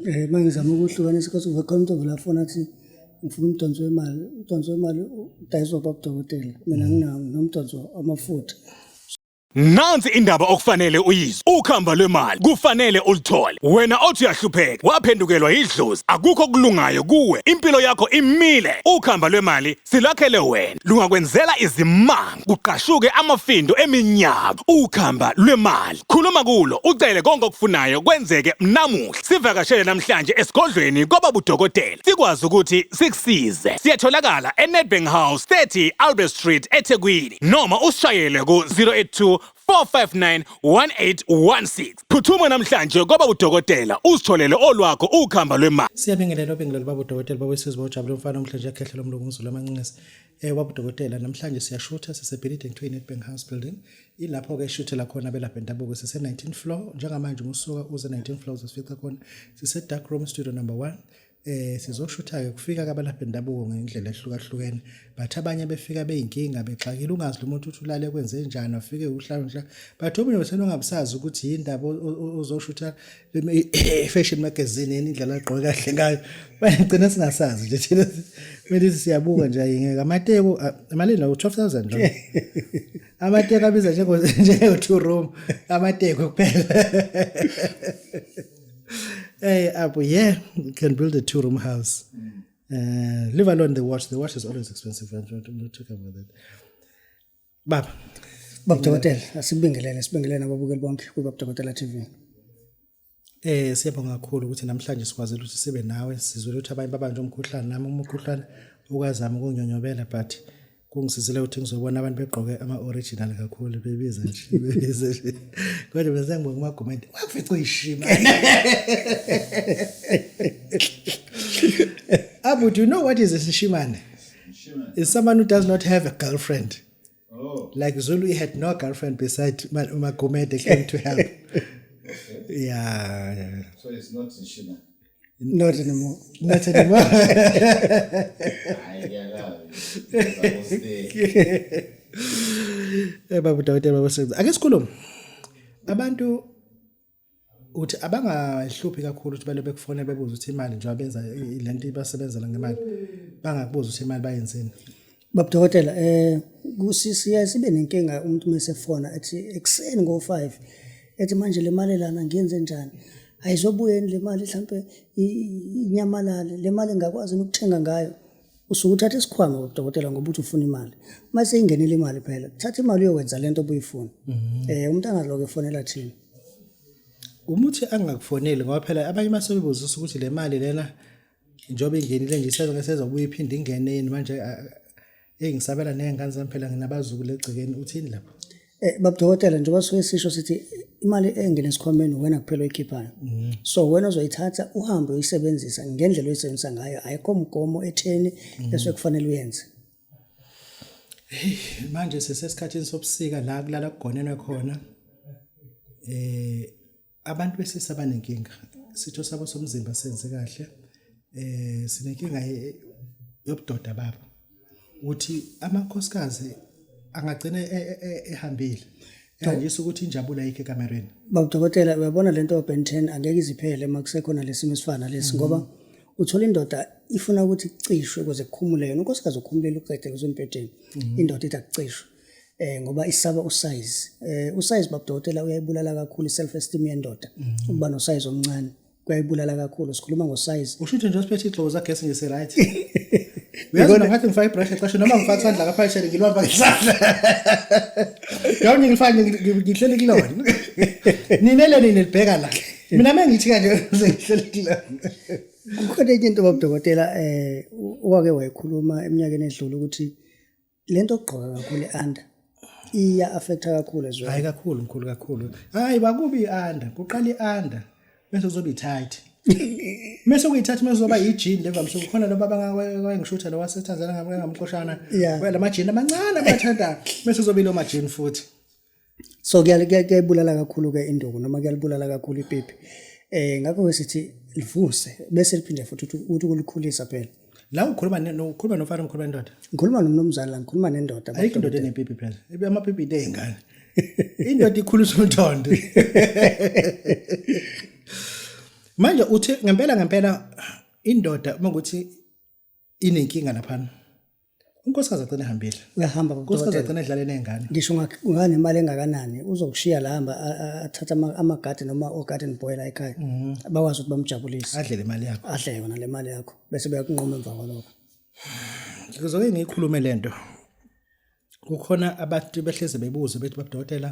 Eh, uma ngizama ukuhlukanisa because uve khona umntu velafona athi ngifuna umdonso wemali umdonso wemali udayiswa babudokotela mina mm. nginawo nomdonso amafutha Nansi indaba okufanele uyizwe. Ukhamba lwemali kufanele ulithole. Wena othi uyahlupheka, waphendukelwa yidlozi, akukho kulungayo kuwe. Impilo yakho imile. Ukhamba lwemali silakhele wena. Lungakwenzela izimanga, kuqashuke amafindo eminyaka. Ukhamba lwemali. Khuluma kulo, ucele konke okufunayo kwenzeke namuhla. Sivakashele namhlanje esigodlweni kwababudokotela. Sikwazi ukuthi sikusize. Siyatholakala eNedbank House 30 Albert Street eThekwini. noma usishayele ku-082 459 1816. Phuthuma namhlanje kwaba udokotela uzitholele olwakho ukhamba lwemali. Siyabingelela obingelela baba udokotela baba wesizwe bawujabule umfana omhle nje ekhehlela umlungu umzulu amancinesi. Eh baba udokotela namhlanje siyashutha sisebhilidini kuthiwa i-Nedbank House Building. Ilapho ke shuthela khona abelaphi bendabuko sise 19 floor njengamanje umusuka uze 19 floors usifica khona sise dark room studio number 1 eh sizoshutha-ke kufika kabalaphi bendabuko ngendlela ehlukahlukene but abanye befika beyinkinga bexakile ungazi lo muntu uthi ulale kwenze njani afike uhlalonhla but omunye wethena ongabusazi ukuthi yini ndaba ozoshutha fashion magazine yini indlela agqoke kahle ngayo bagcina singasazi nje thina kumele siyabuka nje ayingeke amateko amalini lawo 12000 lo amateko abiza njengo njengo two room amateko kuphela hey, up yeah, you can build a two room house. Mm. Uh, leave alone the watch. The watch is always expensive. I'm not, I'm not talking about that. Baba. Baba Dokotela, asibingelele, sibingelele nababukeli bonke kuBaba Dokotela TV. Eh siyabonga kakhulu ukuthi namhlanje sikwazile ukuthi sibe nawe sizwe ukuthi abanye babanje umkhuhlane nami umkhuhlane ukazama ukunyonyobela but kungisizile ukuthi ngizobona abantu begqoke ama-original kakhulu bebiza nje bebiza nje kodwa mina sengibonga umagumende wakufica uyishima abu do you know what is isishimane is someone who does not have a girlfriend oh. like zulu he had no girlfriend beside umagumede came to help yeah, yeah. so it's not ishimane not anymore not anymore hayi ngiyalazi eh babu dawutela babasebenza ake sikhulume abantu uthi abangahluphi kakhulu ukuthi balobe kufonela bebuza ukuthi imali njengoba benza lento ibasebenzela ngemali bangakubuza ukuthi imali bayenzeni Baba Dokotela eh kusiya sibe nenkinga umuntu mesefona ethi ekseni ngo 5 ethi manje le mali lana ngiyenze njani ayizobuye le mali mhlambe inyamalale le mali ngakwazi ukuthenga ngayo usuke uthatha isikhwama udokotela ngoba uthi ufuna imali uma seyingenile imali phela thatha imali uyowenza lento obuyifuna mhm. eh umuntu angaloke fonela thina umuthi angakufoneli ngoba phela abanye masebebuza ukuthi le mali lena njengoba ingenile nje isezoke sezobuya iphinde ingene yini manje eyi ngisabela ney'ngane zami phela nginabazukulu egcekeni uthini lapho Eh babudokotela njengoba suke sisho sithi imali engena esikhwameni wena kuphela oyikhiphayo. Mm. So wena uzoyithatha uhambe uyisebenzisa ngendlela oyisebenzisa ngayo ayikho mgomo etheni mm. bese kufanele uyenze. Hey manje sisesikhathini sobusika la kulala kugonenwe khona. Eh Abantu besilisa banenkinga sitho sabo somzimba senze kahle eh sinenkinga yobudoda babo ukuthi amakhosikazi angagcina e, e, e, ehambile yandisa ukuthi injabulo ayikho ekamereni baba dokotela uyabona lento open 10 angeke iziphele uma kusekhona lesimo esifana lesi mhm. ngoba uthola indoda ifuna ukuthi icishwe kuze kukhumule yona unkosikazi ukhumulele uqede kuzombhedeni mhm. indoda ithi akucishwe eh ngoba isaba usize eh usize babudokotela uyayibulala kakhulu iself esteem yendoda mm -hmm. ukuba no size omncane kuyayibulala kakhulu sikhuluma ngo size usho ukuthi nje usiphethe iglobo zakhe nje se right uyazi ngaphathi ngifaka ibrush exesha noma ngifaka isandla ngapha eshele ngilwamba ngesandla yawuni ngifake ngihlele kulona nina le nina libheka la mina mengithi kanje ngihlele kulona kukhona enye into babudokotela eh owake wayikhuluma eminyakeni edlule ukuthi lento okugqoka kakhulu eanda iya affecta kakhulu as well hayi kakhulu mkhulu kakhulu hayi bakubi ianda kuqala ianda bese kuzoba itight mese kuyithatha mase uzoba yijini levamise kukhona laba abangawayengishutha lo waseTanzania ngamqoshana yeah. lamajini amancane abathanda mese uzoba ilo majini futhi so kuyayibulala kakhulu-ke induku noma kuyalibulala kakhulu ipipi um ngakho-ke sithi livuse bese liphinde futhi ukuthi ukulikhulisa phela la ukhuluma ukhuluma nofana mkhuluma nendoda ngikhuluma nomnumzane la ngikhuluma nendoda ayikho indoda enepipi phela ibe amapipi into ey'ngane indoda ikhulisa umthondo manje uthi ngempela ngempela indoda uma ukuthi inenkinga laphana unkosikazi agcina ehambile uyahamba unkosikazi agcina edlale ney'ngane ngisho unganemali engakanani uzokushiya la hamba athathe amagadi noma ogarden boy la ekhaya mhm. bakwazi ukuthi bamjabulise adle le mali yakho adle yona le mali yakho bese beyakunqoma emva kwalokho ngizoke ngiyikhulume le nto kukhona abantu behleze bebuze bethi babudokotela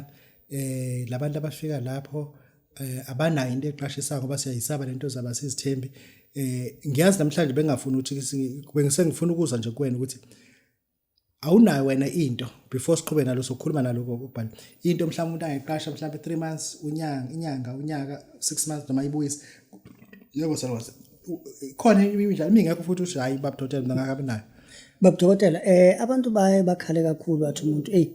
eh labantu abafika lapho eh abanayo into eqashisa ngoba siyayisaba lento zaba sizithembi eh ngiyazi namhlanje bengafuni ukuthi bengisengifuna ukuza nje kuwena ukuthi awunayo wena into before siqhube nalo sokhuluma naloko ubhali into mhlawumbe umuntu angayiqasha mhlawumbe 3 months unyanga inyanga unyaka 6 months noma ibuyise yebo salwazi khona imidlalo mingekho futhi uthi hayi baba dokotela mina ngakabi nayo baba dokotela eh abantu baye bakhale kakhulu bathi umuntu eyi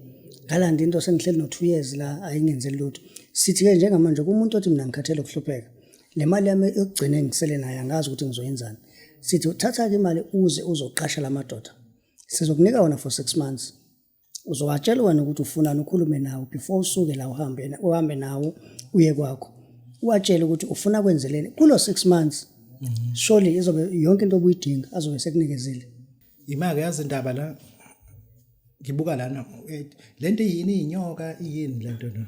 ngalanda into sengihleli no-two years la ayingenzeli lutho sithi-ke njengamanje kumuntu othi mina ngikhathele ukuhlupheka le mali yami yokugcina engisele nayo angazi ukuthi ngizoyenzani sithi uthatha-ke imali uze uzoqasha la madoda sizokunika wona for six months uzobatshela wena ukuthi ufunani ukhulume nawo before usuke la uhambe uhambe nawo uye kwakho uwatshele ukuthi ufuna kwenzeleni kulo 6 months mhm. surely izobe yonke into obuyidinga azobe sekunikezile imake yazi indaba la ngibuka lana lento yini inyoka yini lento na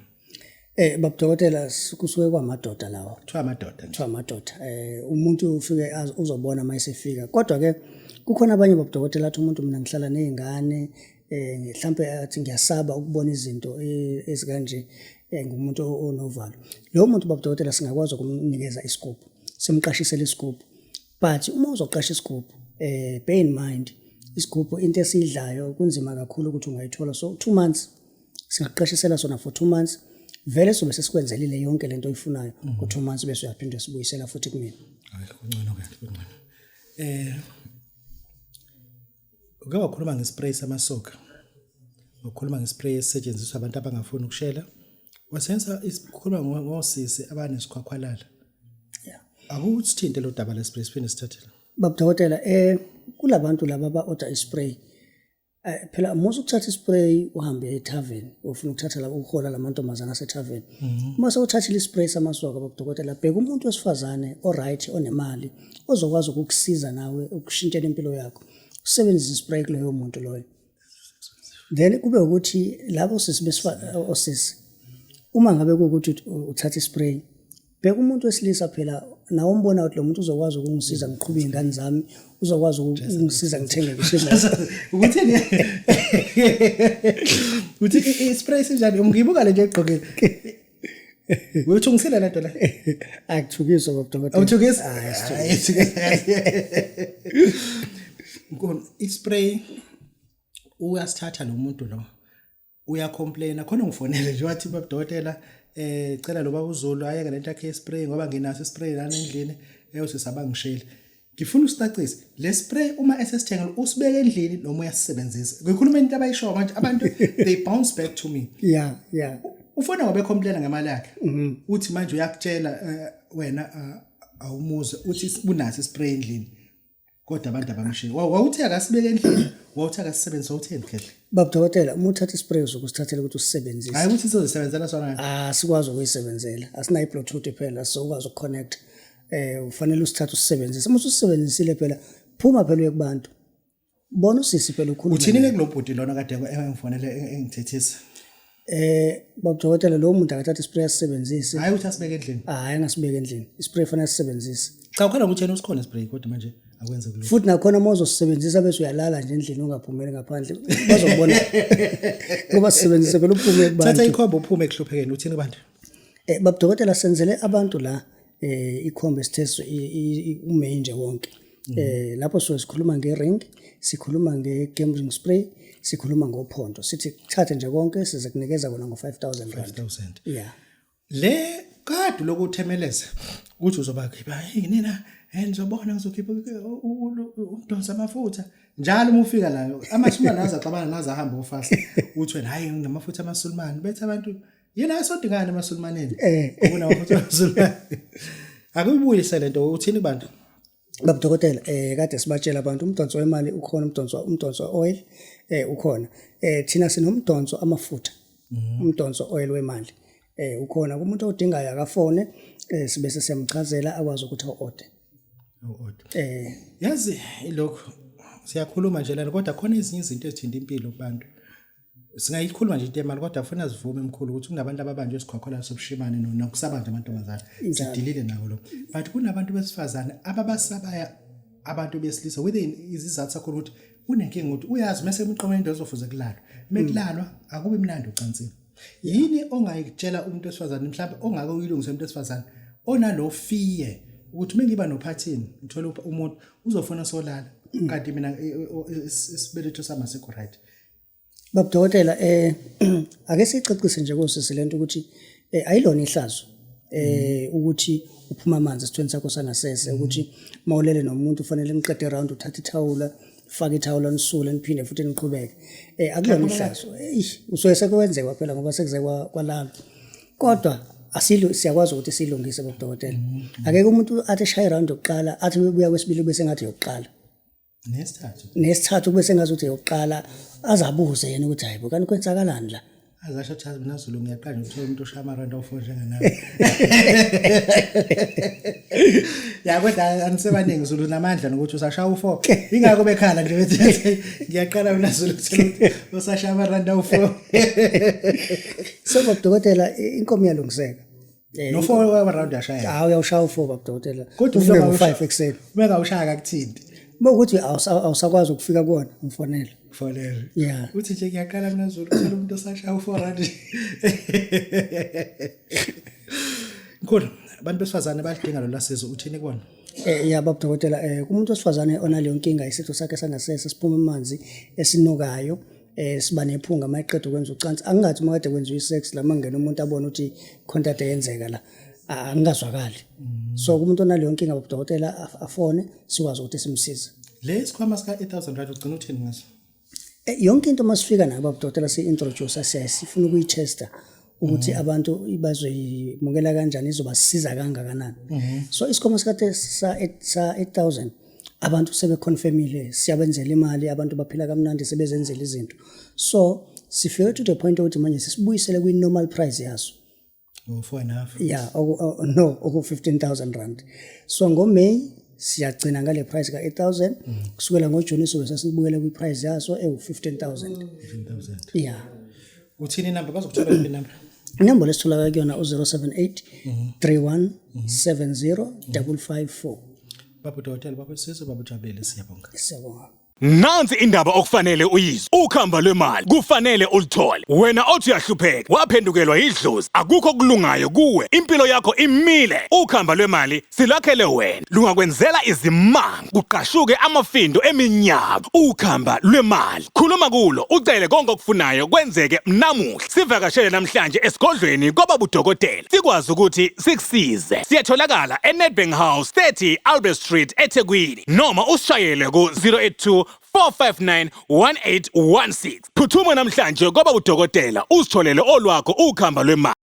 Eh baba dokotela kusuke kwamadoda lawo. Kuthiwa amadoda. Kuthiwa amadoda. Eh umuntu ufike uzobona mayisefika. Kodwa ke kukhona abanye baba dokotela athi umuntu mina ngihlala nezingane eh mhlambe athi ngiyasaba ukubona izinto eh, ezikanje eh, ngumuntu onovalo. Lo muntu baba dokotela singakwazi ukumnikeza isigubhu. Simqashisele isigubhu. But uma uzoqasha isigubhu eh bear in mind isigubhu into esidlayo kunzima kakhulu ukuthi ungayithola so 2 months singakuqeshisela sona for two months vele sobe sesikwenzelile yonke lento oyifunayo mm. ku two months bese uyaphinde sibuyisela futhi kumina hayi kuncono ke kuncono eh uke wakhuluma ngespray samasoka wakhuluma ngespray esisetshenziswa abantu abangafuni ukushela wasenza isikhuluma ngosisi abanesikhwakhwalala yeah akuthinte lo daba lespray siphinde sithathela babudokotela eh kulabantu laba ba order ispray Eh, phela musa ukuthatha ispray uhambe etavern ufuna ukuthatha la uhola lamantombazana asetavern mhm. uma sewuthathile ispray samasoka bakudokotela bheka umuntu wesifazane oright onemali ozokwazi ukukusiza nawe ukushintshela impilo yakho usebenzise ispray kuloyo muntu loyo then kube ukuthi labo sisi besifazane osisi uma ngabe kuwukuthi uthatha ispray bheka umuntu wesilisa phela nawe umbona ukuthi lo muntu uzokwazi ukungisiza ngiqhube iy'ngane zami uzokwazi ukungisiza ngithenge ukuthi ukuthi i-spray sinjani umngibuka le nto egqokile Uyuthungisile le nto le? Akuthukiswa ngobudokotela. Awuthukisi? Hayi, sithukisi. Nkona, i-spray uyasithatha lo muntu lo. uya complain khona ngifonele nje wathi baba dokotela eh cela lo baba uZulu ayeke lento yakhe spray ngoba nginaso spray lana endlini eyosisaba eh, ngishele ngifuna usitacise le spray uma esesithengela usibeke endlini noma uyasisebenzisa ngikhuluma into abayishoyo manje abantu they bounce back to me yeah yeah ufona wabe complain ngemali yakhe mhm. uthi manje uyakutshela eh, wena eh, awumuze uthi unaso spray endlini kodwa abantu abamshiye wawuthi akasibeke endlini wawuthi akasisebenzisa utheni khehle baba dokotela uma uthatha ispray uzokusithathela ukuthi usisebenzise hayi ukuthi sizosebenzela sona ah sikwazi ukuyisebenzela asinayo bluetooth phela so ukwazi ukuconnect eh ufanele usithathe usisebenzise uma usisebenzisile phela phuma phela uye kubantu bona usisi phela ukhuluma uthini ke kulobhuti lona kade engifonele engithethisa Eh babudokotela lo muntu akathatha ispray asisebenzise. Hayi uthi asibeke endlini. Hayi angasibeke endlini. Ispray fanele sisebenzise. Cha ukhala ukuthi yena usikhona spray kodwa manje akwenze kulokho. Futhi nakhona uma uzosebenzisa bese uyalala nje endlini ungaphumeli ngaphandle. Bazobona. Ngoba sisebenzise phela uphume kubantu. Thatha ikhombo uphume ekuhluphekeni uthini kubantu. Eh bab dokotela senzele abantu la eh ikhombe sithethe umain nje wonke. Mm. Eh lapho so sikhuluma ngering, sikhuluma ngegambling spray, sikhuluma ngophondo. Sithi thathe nje konke size kunikeza kona ngo 5000 rand. 5000. Yeah. Le kade lokuthemeleza ukuthi uzoba khipha yini na? Eh ngizobona ngizokhipha umdonsa amafutha. njalo uma ufika layo amasulumane azaxabana naze ahambe ofast uthi wena hayi nginamafutha amasulumane bethe abantu yini ayisodikani emasulmaneni eh ubona ukuthi amasulmane akuyibuyise lento uthini bantu Baba dokotela eh kade sibatshela abantu umdonso wemali ukhona umdonso umdonso oil eh ukhona eh thina sinomdonso amafutha mhm. umdonso oil wemali eh ukhona kumuntu odingayo akafone eh sibe sesiyamchazela akwazi ukuthi order order eh yazi lokho siyakhuluma nje lana kodwa khona ezinye izinto ezithinta impilo kubantu singayikhuluma nje into yemali kodwa funa sivume mkhulu ukuthi kunabantu ababanjwe sikhokhola sobushimane nokusabanje amantombazane sidilile nawo lo but kunabantu besifazane ababasabaya abantu besilisa whether izizathu sakho ukuthi unenkinga ukuthi uyazi mase emqomeni into ezofuze kulalwa mekulalwa akubi mnandi ucansini yini ongayitshela umuntu wesifazane mhlawumbe ongake uyilungise umuntu wesifazane onalo fear ukuthi mengiba nophathini ngithola umuntu uzofuna solala kanti mina isibeletho sami asikho right Baba Dokotela eh ake sicacise nje kosisi lento ukuthi eh, ayilona ihlazo eh ukuthi uphuma amanzi esithweni sakho sangasese ukuthi mawulele nomuntu ufanele niqede round uthathe ithawula fake ithawula nisule niphinde futhi niqhubeke eh akulona ihlazo eish usuke sekwenzeka phela ngoba sekuze kwa- kwalala kodwa asilu siyakwazi ukuthi silungise bodokotela akeke umuntu athi shaye round yokuqala athi ubuya kwesibili bese ngathi yokuqala nesithathu nesithathu kube sengazi ukuthi yokuqala azabuze yena ukuthi hayibo kanti kwenzakalani la azasho ukuthi mina Zulu ngiyaqala ngithola umuntu oshaya amaranda ofo njengenawe ya kodwa anisebaningi Zulu namandla nokuthi usashaya ufo ingakho bekhala nje bethi ngiyaqala mina Zulu ukuthi usashaya amaranda ofo so dokotela inkomo yalungiseka Eh, no four wa round yashaya hawu uyawushaya ufour baba dokotela kodwa ufike ngo-five ekuseni uma engawushaya kakuthini uma ukuthi awusakwazi ukufika kuwona umfonele fonele ya uthi nje ngiyaqala mina zulu kuthela umuntu osashaya u-four rand mkhulu abantu besifazane bayalidinga lolu lasizo uthini kubona Eh ya baba dokotela eh kumuntu osifazane onaleyo nkinga isitho sakhe sangasese siphuma amanzi esinukayo eh siba nephunga uma eqeda ukwenza ucansi angingathi uma kade kwenziwa isex la mangena umuntu abone ukuthi khona kade yenzeka la angingazwakali mm. so kumuntu onaleyo nkinga bodokotela afone sikwazi ukuthi simsize le sikhwama sika 8000 rand ugcina uthini ngaso eh, yonke into masifika nabo bodokotela si introduce siyayifuna ukuyitester ukuthi mhm. abantu bazoyimukela kanjani izobasiza kangakanani mhm. so isikhwama sikade sa 8000 abantu sebeconfirmile siyabenzela imali abantu baphila kamnandi sebezenzela izinto so sifike to the point ukuthi manje sisibuyisele kwi normal price yaso oh, four and a half yeah oku, oh, no oku 15000 rand so ngo May siyagcina ngale price ka 8000 mm. kusukela ngo June sobe sesibuyele kwi price yaso ewu 15000 15000 yeah uthini inamba bazokuthola yiphi inamba inombolo esitholakala kuyona u-078 31 70 554 baba dokotela baba sizo baba jabele siyabonga siyabonga Nansi indaba okufanele uyizwe. Ukhamba lwemali kufanele ulithole. Wena othi uyahlupheka, waphendukelwa yidlozi, akukho kulungayo kuwe. Impilo yakho imile. Ukhamba lwemali Silakhele wena lungakwenzela izimanga kuqashuke amafindo eminyaka ukhamba lwemali khuluma kulo ucele konke okufunayo kwenzeke namuhla sivakashele namhlanje esigodlweni kwababudokotela sikwazi ukuthi sikusize siyatholakala eNedbank House 30 Albert Street eThekwini noma usishayele ku-082 459-1816 phuthuma namhlanje kwaba udokotela uzitholele olwakho ukhamba lwemali